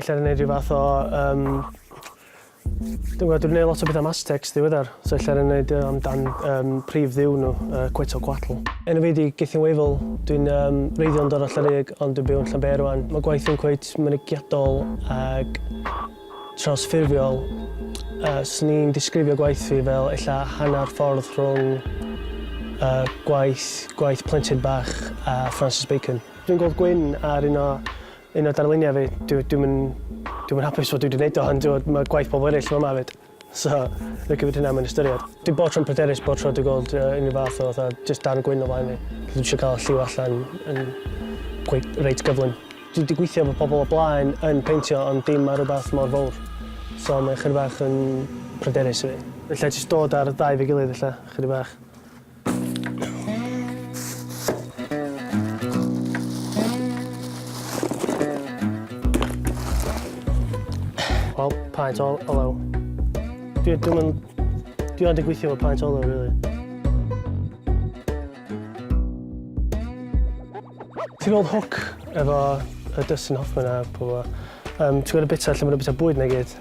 Ella yn neud rhyw fath o um, dwi'n gwybod, dwi'n gwneud lot o beth am Aztecs ddiweddar, so ella yn gwneud uh, amdan um, prif ddiw nhw, uh, Quetzalcoatl. Enw fi di Gethin Weifel, dwi'n um, reiddiol yn dod o Llyrig, ond dwi'n byw yn Llanbeir rwan. Mae gwaith yn cweit mynygiadol ag trawsffurfiol. Uh, Swn i'n disgrifio gwaith fi fel ella hanner ffordd rhwng uh, gwaith, gwaith plentyn bach a Francis Bacon. Dwi'n gweld Gwyn ar un o Un o darluniau fi, dwi, dwi'm yn, dwi'm yn hapus fod dwi wedi gwneud o, ond dwi, mae gwaith pobl eraill yma hefyd. So, dwi'n cymryd hynna mewn ystyried. Dwi bod tro'n pryderus bod tro dwi'n gweld uh, unrhyw fath o fatha just darn gwyn o flaen fi. Dwi eisiau cael lliw allan yn gweith, reit gyflym. Dwi wedi gweithio efo pobl o blaen yn peintio ond dim ar rhywbeth mor fawr. So mae'n chyr bach yn pryderus i fi. Felly jyst dod ar ddau fe gilydd felly, chyr bach. Wel, paent o olew. Dwi ddim yn... Dwi ond yn gweithio efo paent o olew, really. Ti'n gweld hook efo y Dustin Hoffman a pobl. Um, ti'n gweld y bita lle maen nhw'n bita bwyd neu gyd?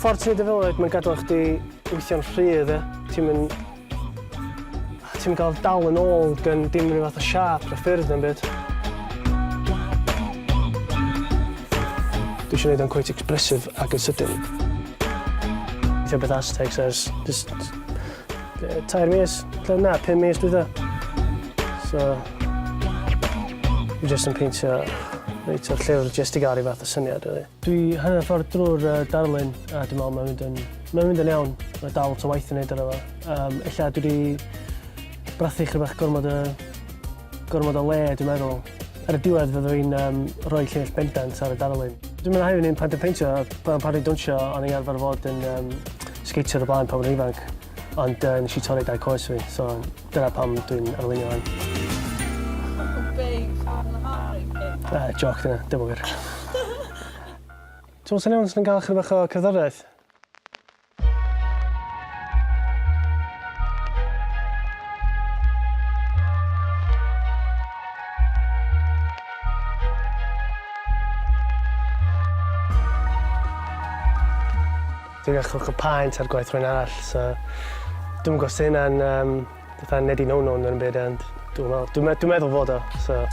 Ffordd ti'n neud e fel 'a mae'n gadel chdi weithio'n rhy dde. Ti'm yn... ti'm yn cael dal yn ôl gan dim ryw fath o siâp na ffyrdd na'm byd. Dwi isio neud o'n cweit expressive ac yn sydyn. Gweithio beth Aztecs ers jyst tair mis, ella na, pum mis dwytha. So... Dwi jyst yn peintio reit o'r llyfr jyst i gael ryw fath o syniad rili. Dwi hanner ffordd drwy'r uh, darlun a dwi'n meddwl mae'n mynd yn, mae'n mynd yn iawn. Mae dal to waith yn neud ar efo. Um, ella dwi wedi brathu chyda bach gormod o, gormod o le, dwi'n meddwl. Ar y diwedd fyddwn i'n um, rhoi lleill bendant ar y darlun. Dwi'n mynd hefyd yn pan dwi'n peintio, pan pan dwi'n dwnsio, o'n i arfer fod yn um, sgeitio ar y blaen pan o'n ifanc, ond uh, nes i torri dau coes fi, so Dyna pam dwi'n arweinio hwn. Na, joc dyna, dim yn wir. Ti'n swnio os ni'n cael chyda bach o cerddoriaeth? Dwi'n achub cwpaent ar gwaith rhywun arall so dwi'm yn gwybod os 'di hynna'n yym fatha neu 'di no-no neu 'im byd ond dwi'm yn meddwl. Dwi'n meddwl fod o so...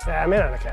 Ie ma' hynna'n ocê.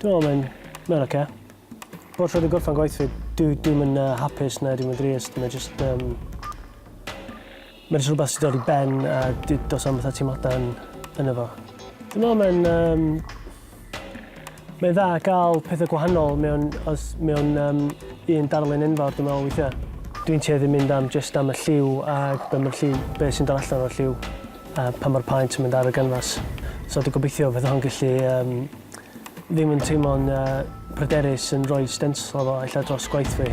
Dwi me'wl mae'n mae o'n oce. Bob tro dwi'n gorffan gwaith fi dwi dwi'm yn yy hapus na dwi'm yn drist mae jyst yym ma' jys rwbath sy'n dod i ben a dy- do's na'm fatha teimlada yn yno fo. Dwi me'wl mae'n yym mae'n dda ga'l pethe gwahanol mewn os mewn yym un darlun enfawr dwi me'wl weithia'. Dwi'n tueddu mynd am jyst am y lliw a be' ma'r lliw be' sy'n dod allan o'r lliw a pan ma'r paent yn mynd ar y ganfas. So dwi gobeithio fydd o'n gellu yym ddim yn teimlo'n uh, pryderus yn rhoi stenslo fo ella dros gwaith fi.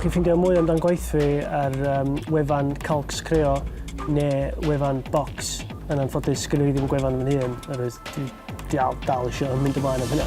Chi'n ffeindio mwy amdan gwaith fi ar um, wefan Calcs Creo neu wefan Box. Yn anffodus, gyda fi ddim gwefan fy hun, yr oedd dal, dal eisiau mynd ymlaen am hynna.